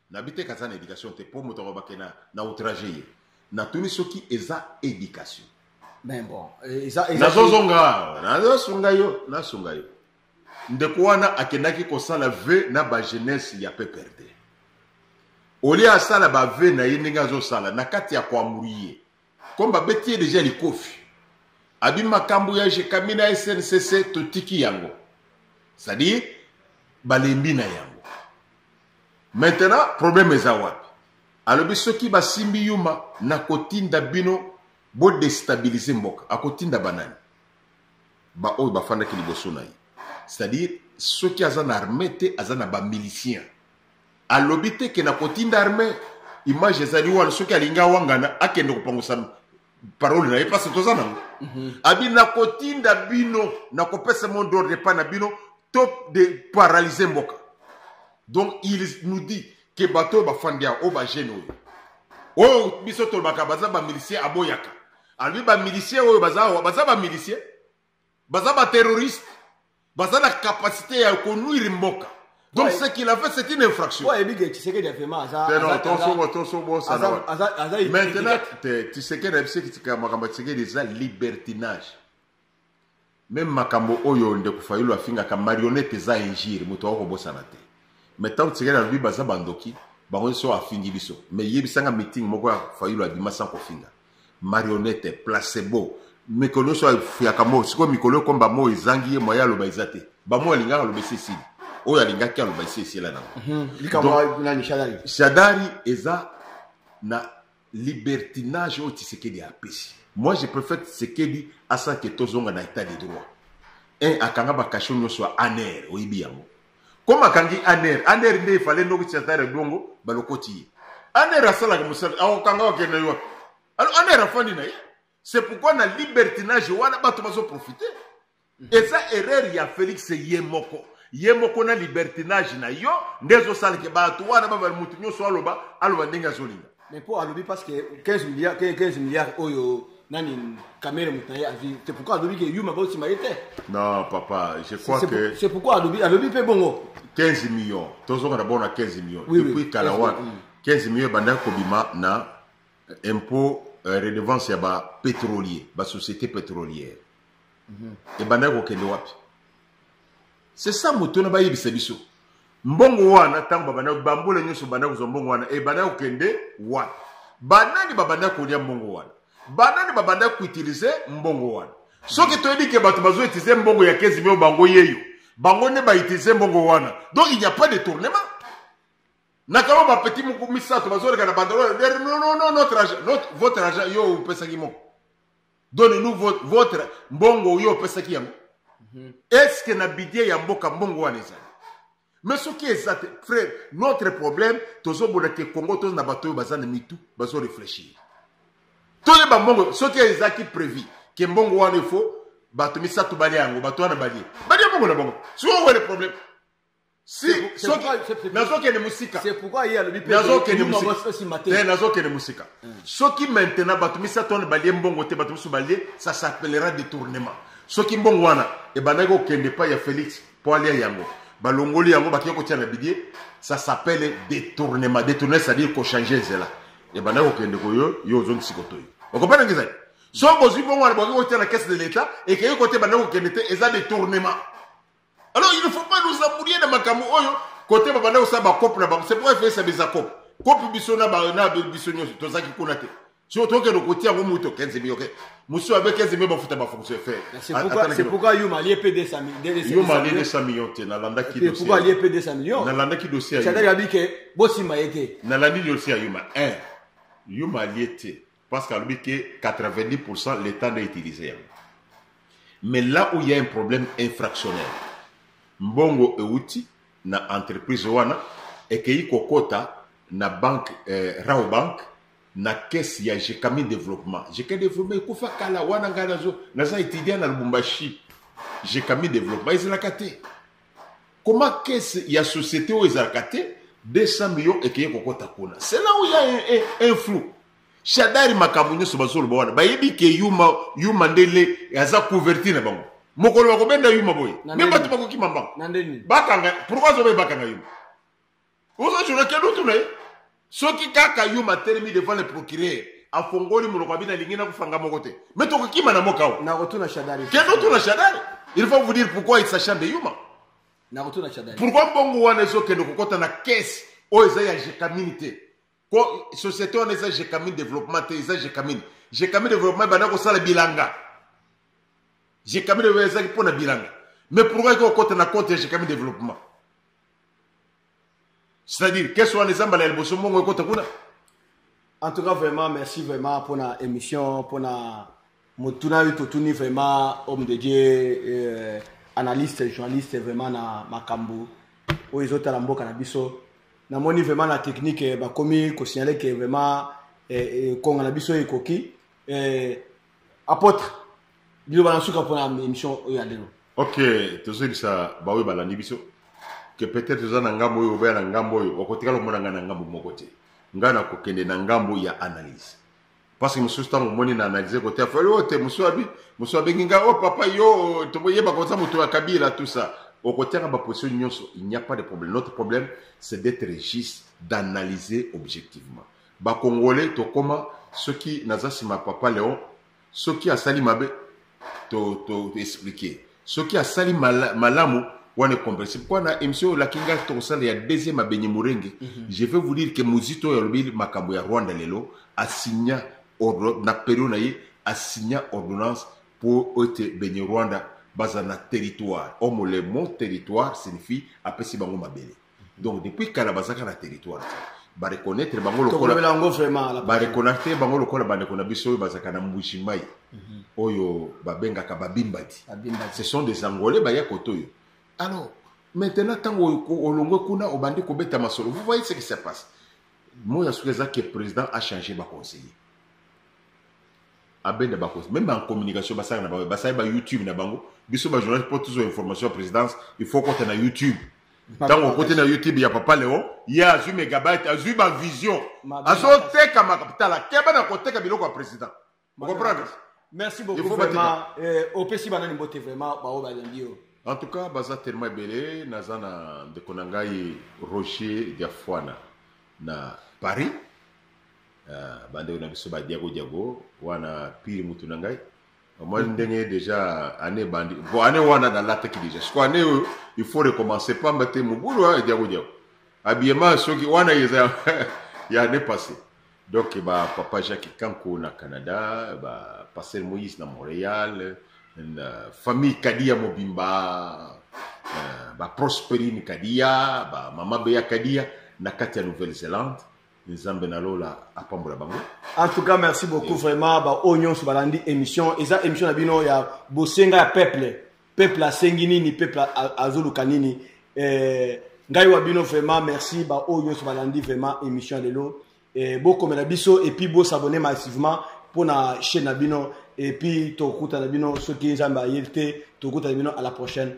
D: na bite kaza na education te po moto alobake na, na outrage ye natuni soki eza education mais bon
B: eh, eza eza nazozonga
D: nazosunga yo nasunga yo ndeko wana akendaki kosala ve na bajeunesse ya pprd olie asala bave na ye ndenge azosala na kati ya koamuri ye comme babeti ye deja likofi abi makambo ya jekami na sncc totiki yango cestadire balembi na yango maintenant problème eza wapi alobi soki basimbi yuma nakotinda bino bodestabilize mboka akotinda banani baoyo bafandaki liboso na ye c'est-à-dire soki aza na arme te aza na bamilicien alobi te ke nakotinda arme image ezali wana soki alingi awangana akende kopangusa parole na ye mpasi toza nango mhm. abi nakotinda bino nakopesa mot d'ordre epai na bino to de paralyse mboka donc il nous dit ke bato oyo bafandi ya oyo bagene oyo oyo biso tolobaka baza bamilicien aboyaka alobi bamilicien oyo baza bamilicien baza ba terroriste baza na capacité ya konuire mboka donc ce qu'il a fait c'est une infraction ayebi ke tisekedi avema
B: azatosobosanamantant
D: tisekedi ayebisekitika makambo ya tisekedi eza libertinage meme makambo oyo ndeko fayulu afingaka marionnette eza injire moto ako kobosana te mais ntango tisekedi alobi baza bandoki bango nyonso afingi biso mais yebisanga meeting moko ya fayulu abima sans kofinga marionnette placebo mikolo nyonso afuyaka mo sikoyo mikolo ekomba mo ezangi ye moye aloba eza te bamo alingaka aloba esi esili oyo alingaki aloba esi esila nango mhm. shadari eza na libertinage oyo tisekedi apesi moi je préfère tisekedi asanke tozonga na état de droit un akanga bakasho nyonso ya aner oyebi yango comme akangi aner aner nde efale ndoki chatare bongo balokoti ye aner asalaka mosala akokanga wakende yo wapi alo aner afandi na ye c'est pourquoi na libertinage wana bato bazoprofite mhm. eza erreur ya félix ye moko ye moko na libertinage na yo nde ezosalaka bato wana babali moto nyonso aloba aloba ndenge azolinga mais mpo alobi parce que
B: 15 milliard 15 milliard oyo nani kamere moto na ye azwi c'est pourquoi alobi ke yuma baosima ye te non papa
D: je crois que c'est pourquoi alobi alobi mpe
B: bongo 15 millions
D: tozonga d'abord na 15 millions oui, depuis oui, kala
B: wana
D: 15 millions ebandaki kobima na impôt euh, redevance ya bapétrolier basociété pétrolière mm -hmm. ebandaki kokende wapi c'est ça moto wana bayebisa biso mbongo wana ntango babanda bambula nyonso banda kozwa mbongo wana ebanda kokende wana banani babanda kolia mbongo wana banani babanda koutilize mbongo wana soki toyebi ke bato bazoutilize mbongo ya 15 mio bango yeyo bango nde bautilize mbongo wana donc il n'y a pas de tournement nakama bapeti moko misato bazoleka na bandolo notre argent votre argent yo opesaki moko doni nous votre mbongo oyo opesaki yango mhm. est-ce que na budget ya mboka mbongo wana ezali mais soki eza te frère notre problème tozobona te congo toza na bato oyo baza na mitu bazo réfléchir toyeba mbongo soki ezalaki prévu ke mbongo wana efo bato misato balia yango bato wana balie balia mbongo na bango sikoyo owe le problème si soki nazokende
B: mosika
D: nazokende mosika soki maintenant bato misato wana balie mbongo te bato mosusu balie ça s'appellera détournement soki mbongo wana ebandaki kokende epai ya félix mpo alia yango balongoli yango bakei kotia na bidie ça s'appelle détournement détournement c'est-à-dire kochange nzela ebandaki kokende koyo yo ozongisi kotoyi okompana ngi ezali soki bozwi bongo wana bokoki kotia na caisse de l'état ekei kote ebandaki kokende te eza détournement alors il ne faut pas nous embrouiller na makambo oyo kote babanda kosala bakope na bango c'est pourquoi efesa beza kope kope biso na biso nyonso tozalaki kuna te si otokende kotia yango moto 15 mio ke mosusu abe 15 mio bafuta bafonction efeyomalie
B: 200 million
D: te nalandaki
B: nalandaki dossier bosimba ye te nalandi dossier ya yuma
D: 1 yuma alie te Parce que alobi que 90% l'État n'a utilisé yango. Mais là où il y a un problème infractionnel, mbongo euti na entreprise wana ekeyi kokota na banque eh, Rao Bank na caisse ya Jekami Développement. Jekami Développement ekufa kala wana ngai nazo naza étudiant na Lubumbashi. Jekami Développement ezalaka te. Comment caisse ya société oyo ezalaka te 200 millions ekeye kokota kuna c'est là où il y a un, un, un flou shadari makambo nyonso bazoloba wana bayebi ke yuma yuma ndele aza couverture na bango mokolo bakobenda yuma boye me bato bakokima mbango bakanga pourkoi azobe bakanga yuma oza journal kende otuna ye soki kaka yo matelemi devant le procureur afongoli monoko abi nalingi nakofanga moko te me tokokima na moka o nakotuna shadari
B: kende otuna shadari
D: il faut vous dire pourquoi il sachant de yuma nakotuna
B: shadari pourquoi mbongo wana
D: ezokende kokɔta na kese oyo eza ya jekamini te ko société wana eza jekamin développement te eza jekamin jekamin développement ebanda kosala bilanga jekamin développement ezalaki mpo na bilanga mais pourquoi eke okota na compte ya jekamin développement c'est-à-dire kese wana eza mbala ya liboso mbongo ekota kuna en
B: tout cas vraiment merci vraiment mpo na émission mpo na motuna oyo totuni vraiment homme de dieu euh, analyste journaliste vraiment na makambo oyo ezotala mboka na biso namoni vraiment na technique eh, bakomi kosignale ke vraiment eh, eh, konga na biso ekoki apôtre biloba na suka mpona émission oyo ya lelo ok tozoyebisa
D: baoyo balandi biso ke peut-être oza na ngambo oyo obeya na ngambo oyo okotikala omona ngai na ngambo moko te ngai nakokende na ngambo ya analyse parce que mosusu ntango omoni na analyse kote afali oyo te mosusu abi mosusu abengi ngai o oh, papa yo toyeba koza moto ya kabila tout ça okotiaka baposition nyonso il n'y a pas de problème notre problème c'est d'être juste d'analyser objectivement bakongole tokoma soki naza nsima papa léon soki asali mabe to to expliquer soki asali mala, malamu wana ekomprese pourkoi na émission oyo olaki ngai tokosala ya deuxième abenye morenge mm -hmm. je vais vous dire que mozito oyo alobi makambo ya rwanda lelo asigna na perio na ye asigna ordonnance mpo ete benye rwanda baza na territoire omo le mot territoire signifie apesi bango mabele donc depuis kala bazalaka na territoire bareconnaitre bango lokolbareconnaitre bango lokola bandeko na biso oyo bazalaka na mbuji mai mhm. oyo babengaka babimbadi ce sont des angolais baya koto oyo alors maintenant ntango olongwe kuna obandi kobeta masolo vous voyez ce qui se passe moi ya soki eza ke président a change baconseiller abenda bakosi meme en communication basala na bango basali ba youtube na bango biso ba journaliste mpo tozwa information ya présidence il faut kota na youtube ntango okoti na youtube ya papa leo ye azwi megabyte azwi bavision azoteka makapitala keba na koteka biloko ya président ocomprendre merci beaucoup
B: vraiment eh, opesi banani mbote vraiment baoyo balembi yo en tout cas baza
D: tellement ebele naza na ndeko na ngai roger diafuana na paris Ah, bandeko na biso badiago diago wana pire mutu na ngai omoni mm. ndenge deja année bandi po année wana nalataki deja siko année oyo il faut recommencer pamba te mobulu ya diago diago habillement soki wana eza ya année passé donc ba papa jacques kanko na canada ba pasteur moïse na montréal na famille kadia mobimba euh, ba prosperine kadia ba mama beya kadia na kati ya nouvelle zélande nzambe na lola apambola
B: bango en tout cas merci beaucoup yeah. vraiment baoyo nyonso balandi émission eza émission na bino ya bosenga ya peuple peuple asengi nini peuple azoluka nini eh, ngai wa bino vraiment merci baoyo nyonso balandi vraiment émission ya lelo eh, bokomela biso epuis bosabone massivement mpo na chaîne na bino epuis tokutana bino soki nzambe ayebi te tokutana bino à la prochaine